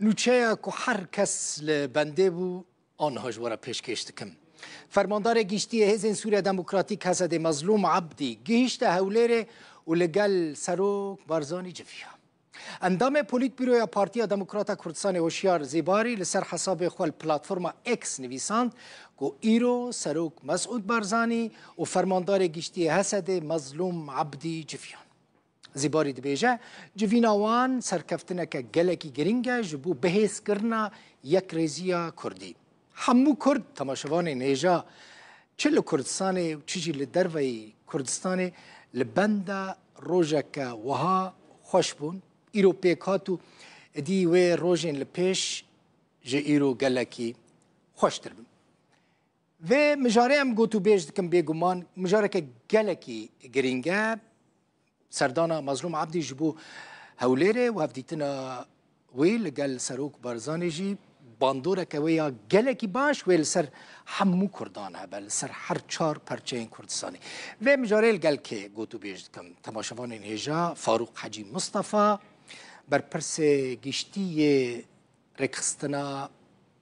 Nûçeya ku her kes li bendê bû aniha ji we re pêşkêş dikim. Fermandarê Giştî yê Hêzên Sûriya Demokratîk Hesedê Mezlûm Ebdî gihîşte Hewlêrê û li gel Serok Barzanî civiya. Endamê Polîtbîroya Partiya Demokrata Kurdistanê Hoşyar Zêbarî li ser hesabê xwe li platforma X nivîsand ku îro Serok Mesûd Barzanî û Fermandarê Giştî yê Hesedê Mezlûm Ebdî civiyan. Zîbarî dibêje, Civîna wan serkeftineke gelekî girîng e ji bo bihêzkirina yekrêziya Kurdî. Hemû Kurd temaşevanên hêja çi li Kurdistanê û çi jî li derveyî Kurdistanê li benda rojeke wiha xweş bûn. Îro pêk hat û dî wê rojên li pêş ji îro gelekî xweştir bin. Vê mijarê em gotûbêj dikim bêguman mijareke gelekî girîng e. Serdana Mazlûm Ebdî ji bo Hewlêrê û hevdîtina wê li gel Serok Barzanî jî bandoreke wê ya gelekî baş wê li ser hemû Kurdan hebe, li ser her çar perçeyên Kurdistanê. Vê mijarê li gel kê gotûbêj dikim? Temaşevanên hêja Farûq Hecî Mistefa, berpirsê giştî yê Rêkxistina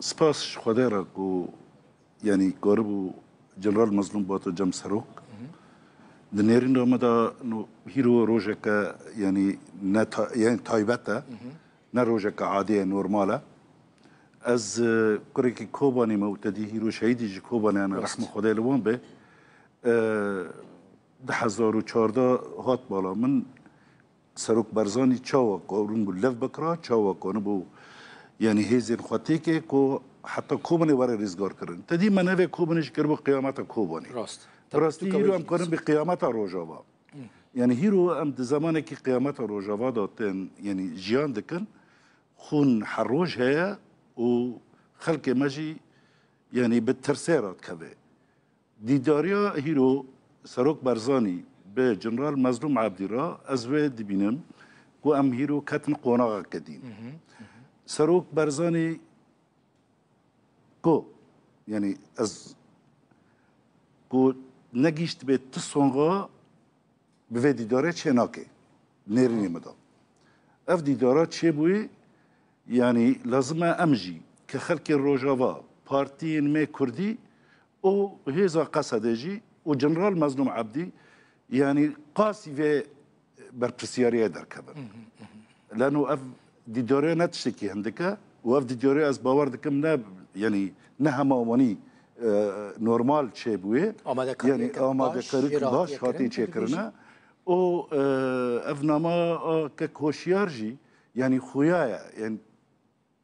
Spas ji Xwedê re ku yanî karibû General Mazlûm Bato cem serok. Di nêrîna me de no hîro rojeke yanî ne ta, yanî taybet e. Ne rojeke adî ye, normal e. Ez e, kurekî Kobanê me û tedî hîro şehîdî ji Kobanê hene rehma Xwedê li wan be. E, di hezar û çardeh hat mala min Serok Barzanî çawa karin bû lev bikira, çawa karin bû yanî hêzên xwe têke ku heta Kobanê were rêzgarkirin. Te dî me navê Kobanê jî kiribû qiyameta Kobanê. Rast. Bi rastî hîro em karin bê qiyameta Rojava. Yanî hîro em di zemanekî qiyameta Rojava de tên yanî jiyan dikin, xûn her roj heye û xelkê me jî yanî bi tirsê re dikeve. Dîdariya hîro Serok Barzanî bi Jeneral Mezlûm Ebdî re ez wê dibînim ku em hîro ketin qonaxeke dî. Serok Barzanî ku yanî ez ku negîştibê ti songa bi vê dîdarê çê nake. Nêrînê min da. Ev dîdara çêbûyê yanî lazim e em jî ke xelkê Rojava, partiyên me Kurdî û hêza Qesedê jî û Jeneral Mezlûm Ebdî yanî qasî vê berpirsyariyê derkevin. Lano ev dîdariya ne tiştekî hindik e û ev dîdariya ez bawer dikim ne yanî ne hema wanî normal çêbûyê yanî amadekarî baş hatî çêkirine û ev nama kek hoşyar jî yanî xuya ye.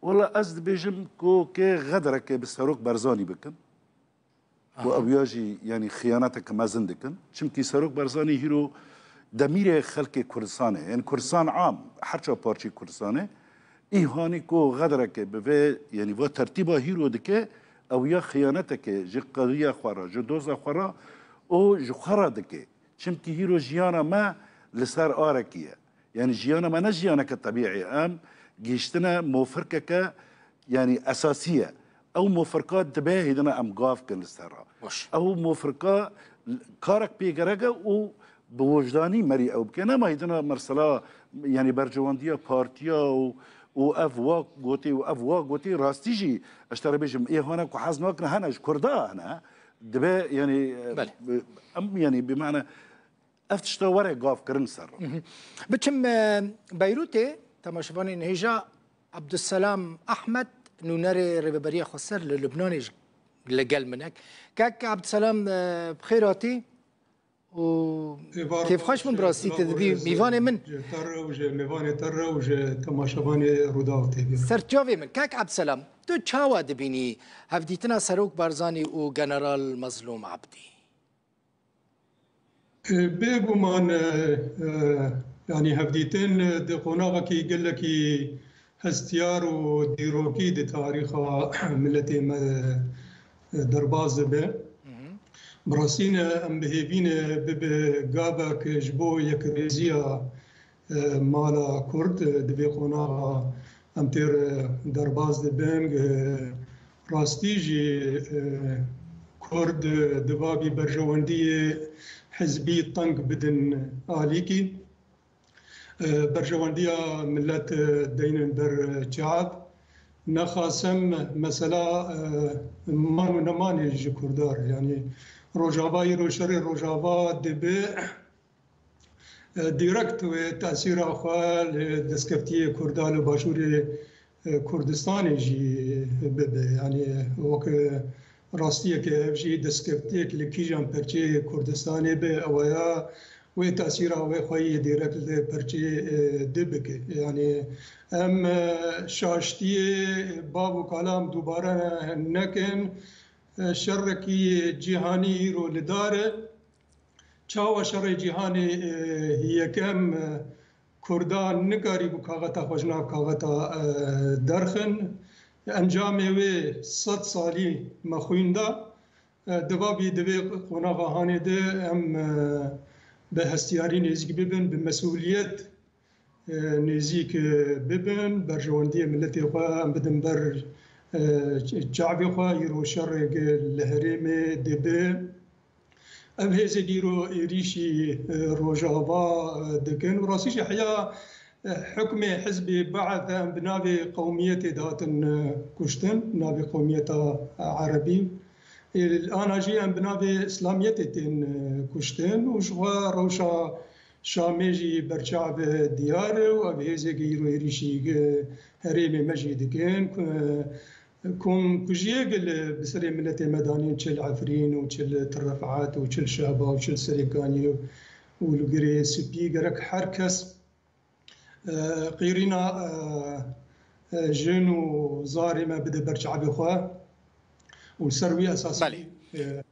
Wela ez dibêjim ku kê xederekê bi Serok Barzanî bikin û ew ya jî yanî xiyaneteke mezin dikin. Çimkî Serok Barzanî hîro demîrê xelkê Kurdistanê yanî Kurdistan am her çar parçeyê Kurdistanê îhanî ku xederekê bi vê yanî va tertîba hîro dike ew ya xiyanetekê ji qewiya xwe re ji doza xwe re û ji xwe re dike. Çimkî hîro jiyana me li ser arekî ye. Yanî jiyana me ne jiyaneke tebîî ye. Em gihîştine mofirkeke yanî esasî ye. Ew mofirka dibe hêdina em gav bikin li ser re. Ew mofirka karek pê gereke û bi wijdanî merî ew bike. Nema hêdina mirsila yanî bercewandiya partiya û û ev wa gotê û ev wa gotê rastî jî ez ji te re bêjim ê hane ku hez nakin hene ji Kurda hene dibe yanî em yanî bêmane Ev tişta were gav kirin ser re. Biçim e, Beyrûtê temaşevanê nêja Abdusselam Ahmed nûnerê Rêveberiya Xweser li Lubnanê ji li gel min e. Kek Abdusselam e, bi xêr hatî û kêfxweş bûm bi rastî te dibî mîvanê min. Te re û ji mêvanê te re û ji temaşevanê Rûdaw tê bîr. Serçavê min, Kek Abdusselam, tu çawa dibînî hevdîtina Serok Barzanî û General Mezlûm Abdî? Bêguman yanî hevdîtin di qonaxekî gelekî hestiyar û dîrokî di tarîxa miletê me de derbas dibe. Bi rastî ne em bihêvî ne bibe gavek ji bo yekrêziya Mala Kurd di vê qonaxa em têr derbas dibin. Rastî jî Kurd dibabî berjewendiyê hizbî teng bidin alîkî. Berjewendiya milet deynin ber çav. Nexasim mesela man û nemanê ji Kurda re yanî Rojava îro şerê Rojava dibe. direkt wê tesîra xwe li destkeftiyê Kurda li Başûrê Kurdistanê jî bibe. Yanî wek rastiyeke ev jî destkeftiyek li kîjan perçeyê Kurdistanê be ewa ya wê tesîra wê xwe yê direkt li perçê di bike. Yanî em şaştiyê bav û kalam dubare nekin. Şerekî cîhanî îro li dar e. Çawa Şerê Cîhanê I Yekem Kurdan nikarîbû kaxeta xwe ji nav kaxeta derxin. Encamê wê sed salî me xwîn da. Di vavî di vê qonaxa hanê de em bi hestiyarî nêzîk bibin, bi mesûliyet Nêzîk bibin, berjewendiyê miletê xwe em bidin ber çavê xwe, îro şerêk li herêmê dibe. Ev hêzek îro êrîşî rojava dikin û rastî jî heya hukmê hizbê Be'th e em bi navê qewmiyetê dihatin kuştin, bi navê qewmiyeta Erebî. Ana jî em bi navê Îslamiyetê tên kuştin û ji xwe rewşa Şamê jî berçav diyar e û ev hêzeke îro êrîşî herêmê me jî dikin ku kom kujiyek li bi serê miletê me danîn çil Efrîn û çil Til Refat û çil Şehba û çil Serêkanî û li Girê Spî gerek her kes qîrîna jin û zarê me bide ber çavê xwe û li ser wî esasî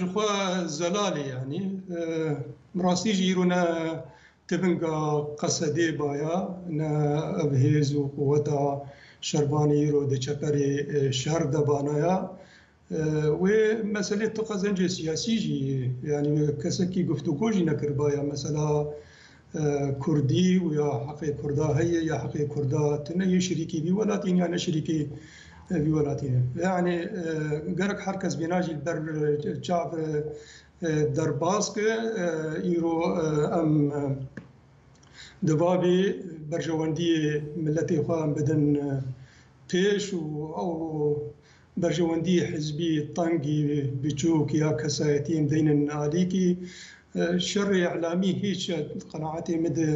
Jixwe zelalê yanî bi rastî jî îro ne tibinga qesedê baya ne ev hêz û quweta şervanê îro di çeperê şer de banaya. Wê meselê tu qezencê siyasî jî yanî kesekî guftugo jî nekiribaya mesela Kurdî û ya heqê Kurda heye ya heqê Kurda tune yê şirîkî vî welatî ne ya ne şirîkî vî welatî ne. Yanî gerek her kes vîna jî li ber çav derbas ke îro em di vavê berjewendiyê miletê xwe em bidin pêş û ew Berjewendiyê hizbî, tengî, biçûk ya kesayetiyên deynin alîkî. Şerê îlamî hîç e. Di qenaetê min de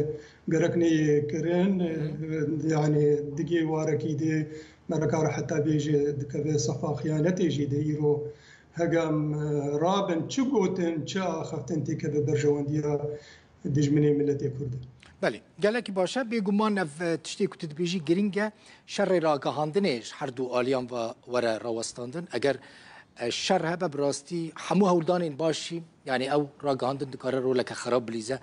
gerek neyê kirin. Yanî digê warekî de me nikare heta bêje dikeve sefa xiyanetê jî de îro hegam rabin çi gotin, çi axiftin têkeve berjewendiya dijminê miletê Kurd e. Belê, gelekî baş e. Bêguman ev tiştê ku tu dibêjî giring e. Şerê ragihandinê ji herdu aliyan ve were rawestandin. Eger şer hebe bi rastî hemû hewldanên baş jî yanî ew ragihandin dikare roleke xerab bilîze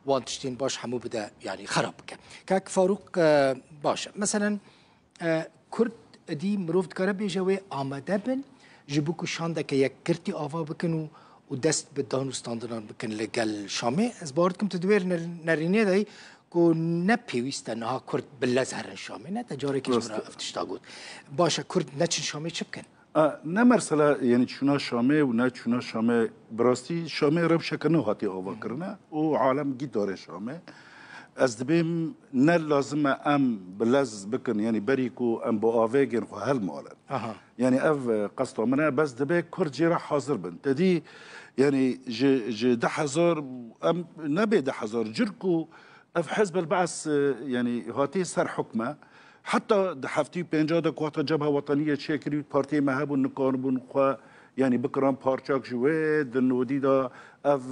wan tiştên baş hemû bide yanî xerab bike. Kak Farûq baş e. Meselen Kurd edî mirov dikare bêje wê amade bin ji bo ku şandeke yekgirtî ava bikin û û dest bi danûstandinan bikin li gel Şamê. Ez bawer dikim tu di wê nerînê de yî ku ne pêwîst e niha Kurd bi lez herin Şamê. Ne te carekê ji min re ev tişta got. Baş e Kurd neçin Şamê çi bikin? A, ne mersela yenî çûna Şamê û ne çûna Şamê, bi rastî Şamê rewşeke nû hatiye avakirine û alem gît dare Şamê. Ez dibêm ne lazim e em bi lez bikin yenî berî ku em bi avêgên xwe hilmalin. Aha. Yenî ev e, qesta min e, bes dibe kurd jê re hazir bin. Te dî yenî ji ji deh hezar û em nebê deh hezar cur ku ev Hizb el-Ba'th e, yenî hatiye ser hukme, Heta di heftî pênca de ku heta Cebha Wetanî yê çêkirî partiyê me hebûn nikaribûn xwe yanî bikiran parçak ji wê di nodî de ev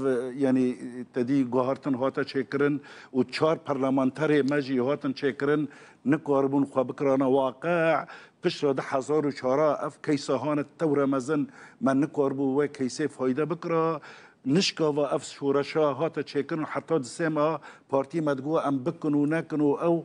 yanî tedî guhartin hate çêkirin û çar perlemanterê me jî hatin çêkirin nikaribûn xwe bikirana waqe piştre di hezar û çara ev keysa hane tewre mezin me nikaribû wê keysê fayde bikira nişkava ev şoreşa hate çêkirin heta di sêma partî me digo em bikin û nekin û ew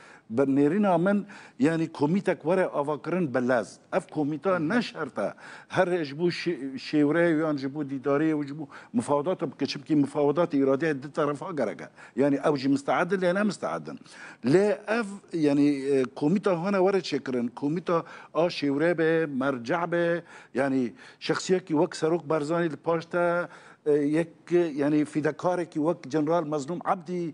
Bi nêrîna min yanî komîtek were avakirin bi lez. Ev komîta ne şert e her ji bo şêwre yan ji bo dîdarê û ji bo mifawedat bike çimkî mifawedat îradeya di terefa gerek e. Yanî ew jî misteed in lê ne misteed in. Lê ev yanî komîta hane were çêkirin. Komîta a şêwre be, merce be yanî şexsiyekî wek Serok Barzanî li paş te yek yanî fîdekarekî wek General Mezlûm Ebdî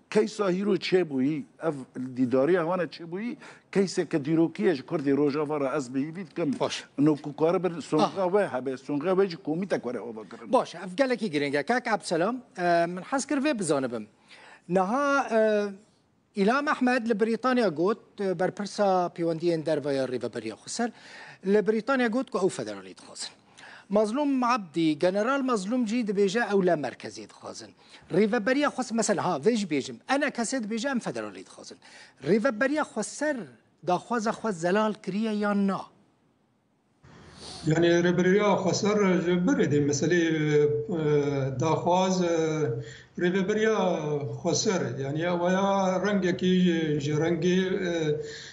Keysa hîro çêbûyî, ev dîdariya wan e çêbûyî, keyseke dîrokî ye ji Kurdê Rojava re ez bi hîvî dikim. Baş. No ku karibin songa we hebe, songa we jî komîtek were ava kirin. Baş e, ev gelekî girîng e. Kak Ebselam, min hez kir vê bizanibim. Niha Îlham Ehmed li Brîtanya got, berpirsa pêwendiyên derve ya Rêveberiya Xweser, li Brîtanya got ku ew federalî dixwazin. Mazlûm Ebdî, General Mazlûm jî dibêje ew li merkezê dixwazin. Rêveberiya xwe mesela ha vê jî bêjim ene kesê dibêje em federalî dixwazin. Rêveberiya xwe ser daxwaza xwe zelal kiriye yan na? Yani rêberiya xweser ji birê dê meselê daxwaz rêveberiya xweser yani waya rengekî ji rengê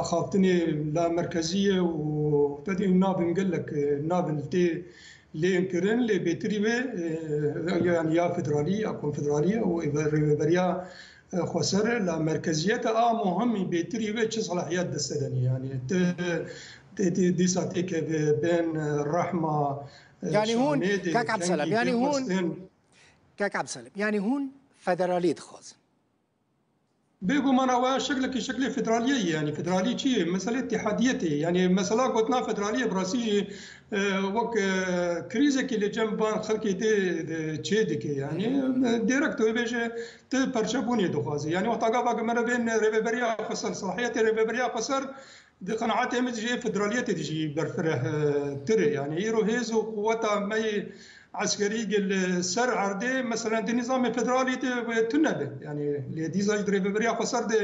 Axaftinê la merkezî ye û tedên nabin gelek nabin li tê lên kirin lê bêtirî wê yanî ya federalî ya konfederalî ye û rêveberiya xweser e la merkezîyete a muhimî bêtirî wê çi selahiyet deste de ne yanî ti tê dîsa têkeve bên rehma yanî hûn kek Ebdselam yanî hûn kek Ebdselam yanî hûn federalî dixwazin. Bêguman ew a şeklekî şeklê federaliyê ye. Yanî federalî çi ye? Meselê îtîhadiyê tê. Yanî mesela gotina federaliyê bi rastî jî wek krîzekî li cem van xelkê tê çê dike. Yanî dêrek tu bêje tu perçebûnê dixwazî. Yanî wexta gava ku mere bên rêveberiya xwe ser, selahiyetê rêveberiya xwe ser Di qenaetê min jî federaliyetê de jî berfireh tir e. Yanî îro hêz û quweta me yê eskerî ge li ser erdê meselen di nîzamê federalî de wê tune be. Yanî lê dîza jî di rêveberiya Xweser de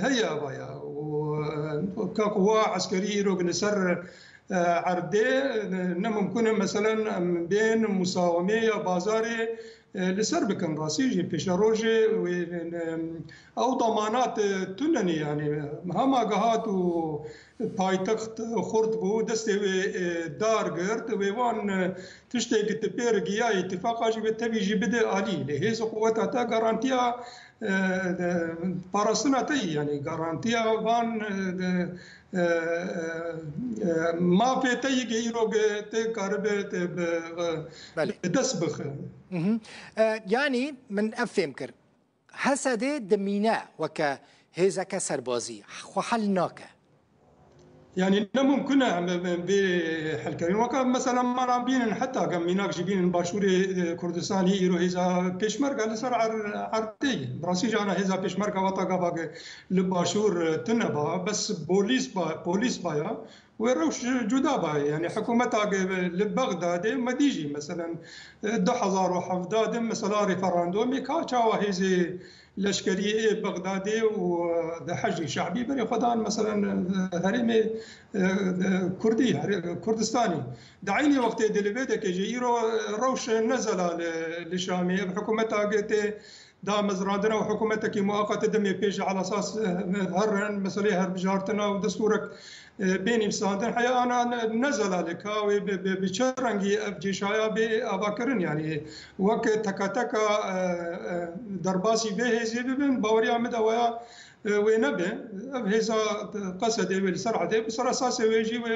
heye ava ye û ka quwa eskerî îro ge li ser erdê ne mimkun e meselen em bên musawamê ya bazarê Li ser bikin rastî jî pêşerojê wê ew damanat tune ne yanî hema gehat û paytext xurt bû destê wê dar girt wê wan tiştê ki ti pêr giya îtîfaqa jî wê tevî jî bide alî lê hêz û quweta te garantiya parastina te yî yanî garantiya van Mafê te yê îrog tê karibe te bi dest bixe. Yanî min ev fêm kir. Hesedê dimîne weke hêzeke serbazî xwe hel nake. Yanî ne mumkin e em vê helkerîn weke mesela mala bînin heta ke mînak jî bînin başûrê Kurdistanî îro hêza pêşmerge li ser erdê ye. Bi rastî jî ana hêza pêşmerge weta gava ke Li başûr tune ba bes polîs ba polîs ba ya wê rewş cuda ba yanî hikûmeta li Bexdadê medî jî meselen du hezar û hevdeh de mesela referandûmê ka çawa hêzê leşkerî ê Bexdadê û Heşdê Şe'bî berê xwe dan meselen herêmê kurdî Kurdistanê di eynî wextê di li vê dekê jî îro rewş ne zelal li Şamê ev hikûmeta tê Damezrandina û hikûmetekî mueqetê demê pê ji elasas herrin, meseleyê herbijrtina û desturek bê nivîsandin heya ana ne zelalê ka wê bi çi rengî ev cêşaya bê avakirin yanî wek teke teka derbasî vê hêzê bibin baweriya min de waya wê nebe. Ev hêza qesedê wê li ser erdê bi ser esasê wê jî wê